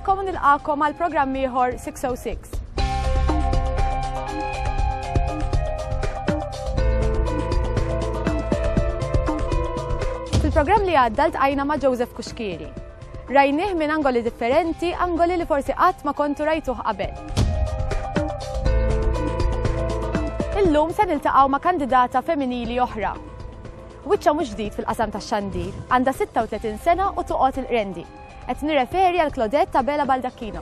Nilkom nilqakom għal programm ieħor 606. Fil-programm li għadda ltqajna ma' Joseph Kuxkiri, Rajnieh minn angoli differenti, angoli li forsi qatt ma kontu rajtuh qabel. Illum se niltaqgħu ma' kandidata feminili oħra. Wiċċha mhux ġdid fil-qasam tax-xandir, għandha 36 sena u toqgħod il-Qrendi. Qed nirreferi għal Claudette Abela Baldacchino.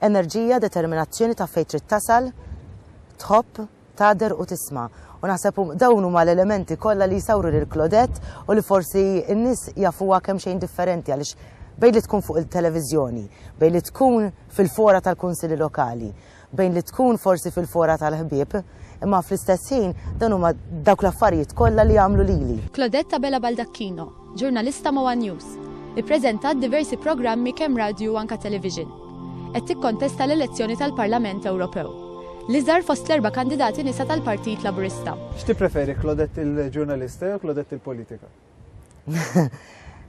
Enerġija, determinazzjoni, taf fejn trid tasal, tħobb, tagħder u tisma'. U naħseb dawn huma l-elementi kollha li jsawru lil Claudette u li forsi n-nies jafuha kemm xejn differenti għaliex bejn li tkun fuq il-televiżjoni, bejn li tkun fil-fora tal-kunsili lokali, bejn li tkun forsi fil-fora tal-ħbieb, imma fl-istess ħin dan huma dawk l-affarijiet kollha li jagħmlu lili. Claudette Abela Baldacchino. Ġurnalista ma' one News. Ippreżentat diversi programmi kemm radju u anka television. Qed tikkontesta l-elezzjoni tal-Parlament Ewropew. L-iżgħar fost l-erba' kandidati nisa tal-Partit Laburista. X'tippreferi Claudette il-ġurnalista jew Claudette il-politika?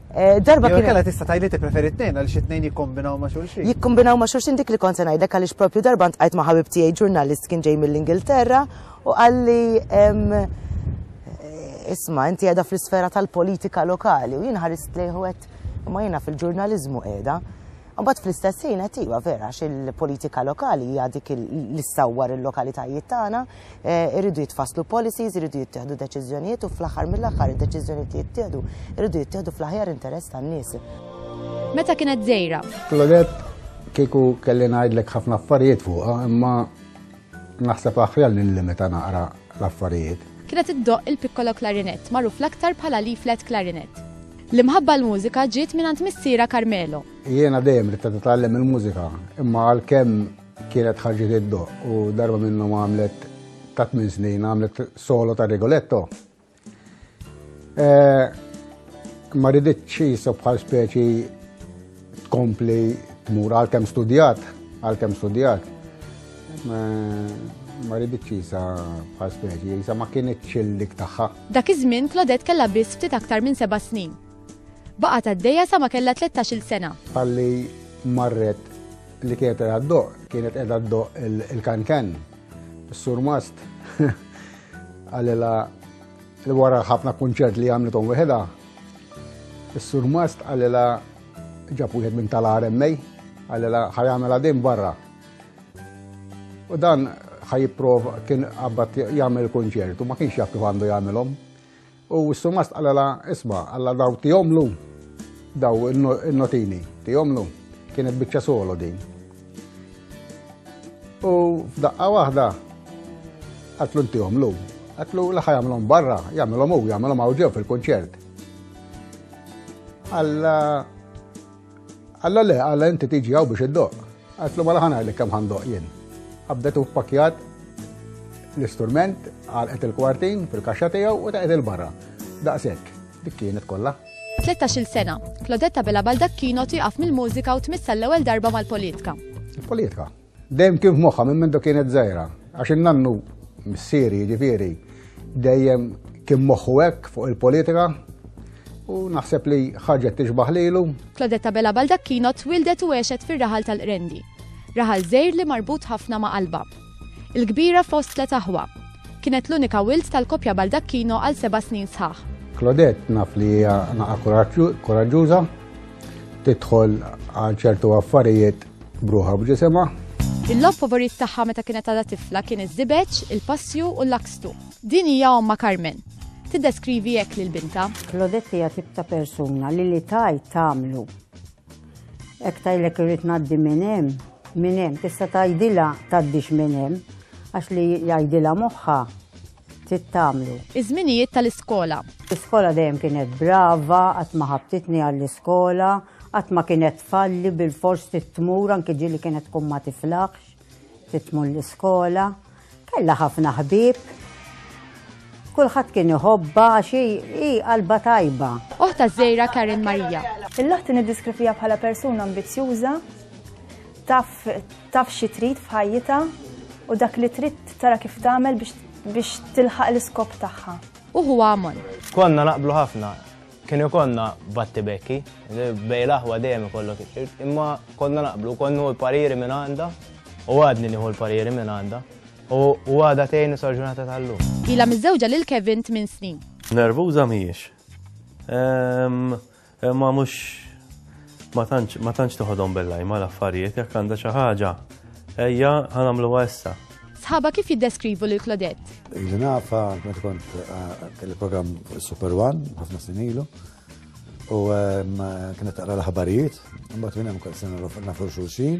Darba kien. Jew inkella tista' tgħidli tippreferi t-tnejn għaliex it-tnejn jikkombinaw ma' xulxin. Jikkombinaw ma' xulxin dik li kont se ngħidlek għaliex proprju darba ntqajt ma' ħabib tiegħi ġurnalist kien ġej mill-Ingilterra U qalli, Isma', inti qiegħda fl-isfera tal-politika lokali u jien ħarist lejh u għedt, imma jiena fil-ġurnaliżmu qiegħda. Mbagħad fl-istess ħin qed iva vera għax il-politika lokali hija dik li ssawwar il-lokalitajiet tagħna, eh, irridu jitfasslu policies, irridu jittieħdu deċiżjonijiet u fl-aħħar mill-aħħar id-deċiżjonijiet li jittieħdu irridu jittieħdu fl-aħjar interess tan-nies. Meta kienet żejra? Klodet kieku kelli ngħidlek ħafna affarijiet fuqha, imma Naħseb aħjar li nlimita naqra l-affarijiet. Kienet iddoqq il-piccolo clarinet, magħruf l-aktar bħala l-E flat clarinet. L-imħabba għall-mużika ġiet mingħand missierha Carmelo. Jiena dejjem ridta titgħallem il-mużika, imma għalkemm kienet ħarġet iddoqq u darba minnhom għamlet ta' tmien snin għamlet solo ta' Rigoletto. Eh, ma riditx jisu bħal speċi tkompli tmur għal kem studjat, għal kem studjat. Ma riditx jisa bħal speċi, jisa ma kienet dik taħħa. Dak iż-żmien Claudette kella biss ftit aktar minn seba' snin. Baqa ta' d sa ma kella 13 sena. Għalli marret li kienet għaddoq, kienet għaddoq il-kankan, il-surmast. Għalila li wara ħafna kunċert li għamlitom weħeda, s-sur Mast għalila ġab wieħed minn tal-RMA, għalila ħajamela din barra. U dan ħajipprova kien għabbat jagħmel kunċert u ma kienx jaf kif għandu jagħmilhom. U s-surmast qalalha, Isma', alla daw tihomlu, daw in-notini, tihomlu. Kienet biċċa solo din. U f'daqqa waħda għatlu ntihomlu. Għatlu l-ħa jagħmlhom barra, jagħmilhom u jagħmilhom hawn ġew fil-kunċert. Alla Alla le, alla inti tiġi għaw biex id-doq. Għatlu ma laħan għalli kam għandoq jien. Għabdetu pakjat l-istrument għalqet il-kwartin fil-kaxxa tiegħu u taqgħet il-barra. Daqshekk, dik kienet kollha. 13-il sena, Klodetta Bela Baldak kienu tieqaf mill-mużika u tmissa l-ewwel darba mal-politika. Il-politika? Dejjem kien f'moħħha minn meta kienet żgħira, għax in-nannu missieri jiġifieri dejjem kien moħħu hekk fuq il-politika u naħseb li ħarġet tixbaħ lilu. Claudetta Bella Baldacchino twildet u għexet fir-raħal tal-Qrendi. Raħal żgħir li marbut ħafna ma' qalba. Il-kbira fost tlet aħwa. Kienet l-unika wild tal-koppja Baldacchino għal seba' snin sħaħ. Claudette naf li hija naqa' koraġġuża, tidħol għal ċertu affarijiet B'ruħha u b'ġisimha. Il-logħob favorit tagħha meta kienet għadha tifla kien iż-żibeġ, il-passju u l-lakstu. Din hija ommha Carmen. Tiddeskrivi hekk lil bintha. Claudette hija tip ta' persuna li li tgħid tagħmlu. Hekk tgħidlek irrid ngħaddi minn hemm, minn hemm tista' tgħidilha tgħaddix minn hemm għax li jgħidilha moħħha ftit tagħmlu. Iż-żminijiet tal-iskola. L-iskola dejjem kienet brava, qatt ma ħabtitni għall-iskola, qatt ma kienet tfalli bilfors trid tmur anke ġieli kienet tkun ma tiflaħx trid tmur l-iskola. Kellha ħafna ħbieb. Kulħadd kien iħobba għax hi qalba tajba. Oħta żejra Karen Marija. Il-laħti niddiskrivija bħala persuna ambizzjuża, Taf taf xi trid f'ħajjitha u dak li trid tara kif tagħmel biex tilħaq l-iskop tagħha. U huwa Amon. Konna naqblu ħafna, kien ikonna batti bekki, bej laħwa dejjem ikollok, imma konna naqblu, konnu l-pariri minn għanda, u għadni nieħu l-pariri minn għanda, u għada tejn sarġunata tal-lum. Ila mizzewġa lil Kevin 8 snin. Nervuża mhijiex. Ehm, Imma mhux ma tantx ma tantx toħodhom bil-lajma l-affarijiet jekk għandha xi ħaġa. Ejja ħanamluha issa. Sħaba kif jiddeskrivu lil Claudette? Ili nafa meta kont kelli programm Super One ħafna snin ilu. U kienet taqra l-ħabarijiet, mbagħad minn hemm kont se nafu xulxin.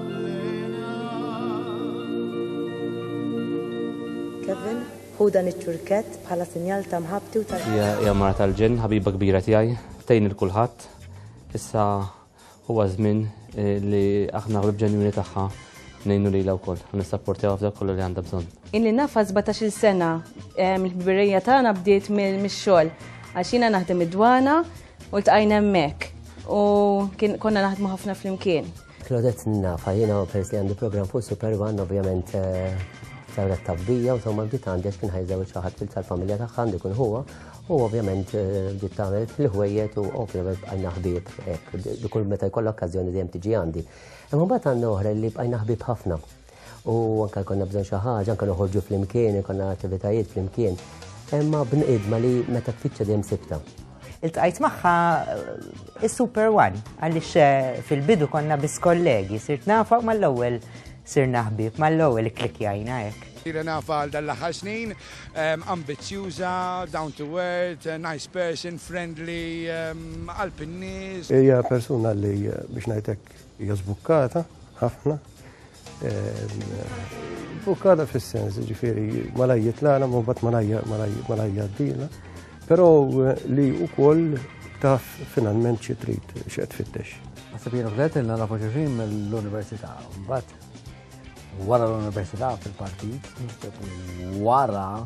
Kevin, ħu dan iċ-ċurkett bħala sinjal ta' mħabbti u tal- Hija mara tal-ġenn, ħabiba kbira tiegħi, tgħin il kulħadd. Issa huwa żmien eh, li aħna ħlib ġenjuni tagħha nejnu li la wkoll, nissapportjaw f'dak kollu li għandha bżonn. Inni nafa 17 sena, l-ħbirija tagħna bdiet mix-xogħol għax jiena naħdem id-dwana u l-tqajna hemmhekk u konna naħdmu ħafna flimkien. Claudette nafa jiena peress li għandi programm fuq Super One, ovvjament saret tabbija u somma bdiet għandi għax kien ħajżew ċaħat fil-familja tagħha għandi kun huwa u ovvjament bdiet tagħmel fil-ħwejjet u ovvjament bqajna ħbieb hekk kull meta jkollha okkażjoni dejjem tiġi għandi. Imma mbagħad għandna oħra li bqajna ħbieb ħafna. U anke konna bżonn xi ħaġa, anke noħorġu flimkien, konna attivitajiet flimkien. Imma bnqidma li meta tfittxa dejjem sibta. Iltqajt magħha eh, is-Super One għaliex eh, fil-bidu konna bis kollegi, sirt nafa mal-ewwel sir naħbib mal-ewwel klikjajna hekk. Sira nafa għal dal-aħħar snin, ehm, ambizjuża, down to earth, eh, nice person, friendly, ehm, għal pinnis. Hija persuna li eh, biex ngħidlek Hija żbukkata ħafna. Żbukkata fis-sens, ġifieri malaj jitlana, ma bat malaj jaddina. Però li wkoll taf finalment xi trid x'qed fittex. Naħseb jiena bdet ilna nafu ġifin mill-università. Mbagħad wara l-università fil-partit, wara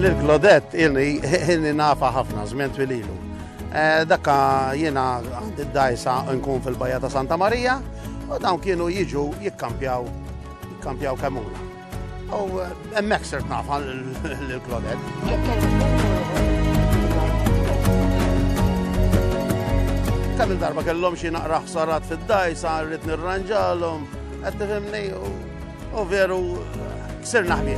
L-Claudette illi illi nafa ħafna żmien twililu. Eh, dakka jiena għandi d-dajsa nkun fil-bajja ta' Santa Marija u dawn kienu jiġu jikkampjaw jikkampjaw kemmuna. Oh, uh, emmek sirt nafa l-klonet. Kemm il-darba kellhom xi naqra ħsarat fid-dajsa, rrid nirranġalhom, qed tifhimni u veru sirna ħbieb.